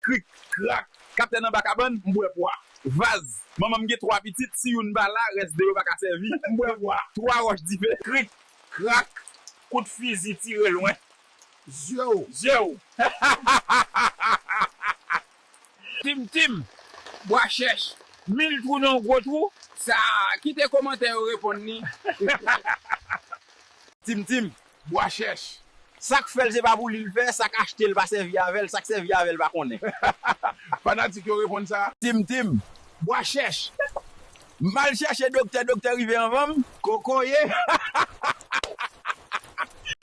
Krik, krak, Kaptèn anba kabann, M bwè pwa. Vaz, Manman m gen twa pitit, si youn pa la, rès 2 yo pa ka sèvi. M bwè pwa. Twa wòch dife. Krik, krak, Kout fizi tire lwen. Zye w. Zye w. Hahahahahaha! Tim tim, Bwa chèch, mil twou nan yon gwo twou. Sa a, kite komantè yo reponn li. Tim tim, bwa chèch. Sak fèl se pa pou li l fè, sak achtel pa sèvi avèl, sak sèvi avèl pa konnen. Fanatik yo reponn sa. Tim tim, bwa chèch. M al chèche doktè, doktè rive anvan m. Kokoye hahahahaha.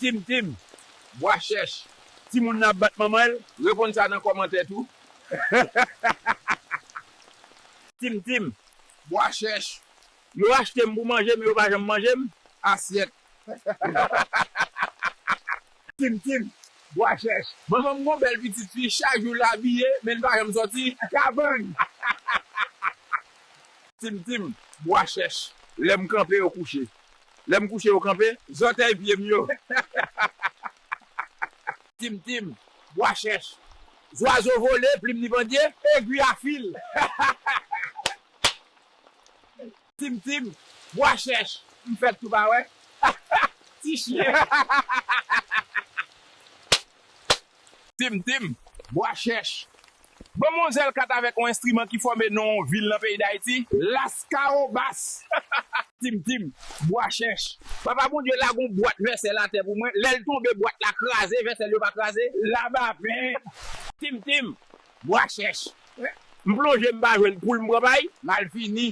Tim tim, bwa chèch. Timoun nan ap bat manman l. Reponn sa nan kòmantè tou hahahahaha. Tim tim, bwa chèch. Yo achte m pou manje men yo pa janm manje m. Asyèt. Kim Kim bwa chèch. Manman m gon bèl pitit fi chak jou l abiye men li pa janm sòti. Kabann. Tim Tim bwa chèch. Lè m kanpe yo kouche. Lè m kouche yo kanpe. Zòtèy pye m yo. Tim Tim bwa chèch. Zwazo vole plim li pandye. Egwi a fil. Tim tim bwa chèch m fèt tou pa wè ti chyen hahahahahaha. Tim tim bwa chèch ban m on zèl kat avèk on enstriman ki fòme non on vil nan peyi dayiti laskawobas hahahaha. Tim tim bwa chèch papa bondye lage on bwat vèsèl atè pou mwen lèl tonbe bwat la kraze vèsèl yo pa kraze la vapè. Tim tim Bwa chèch. M plonje m pa jwenn poul m pran pay. Malfini.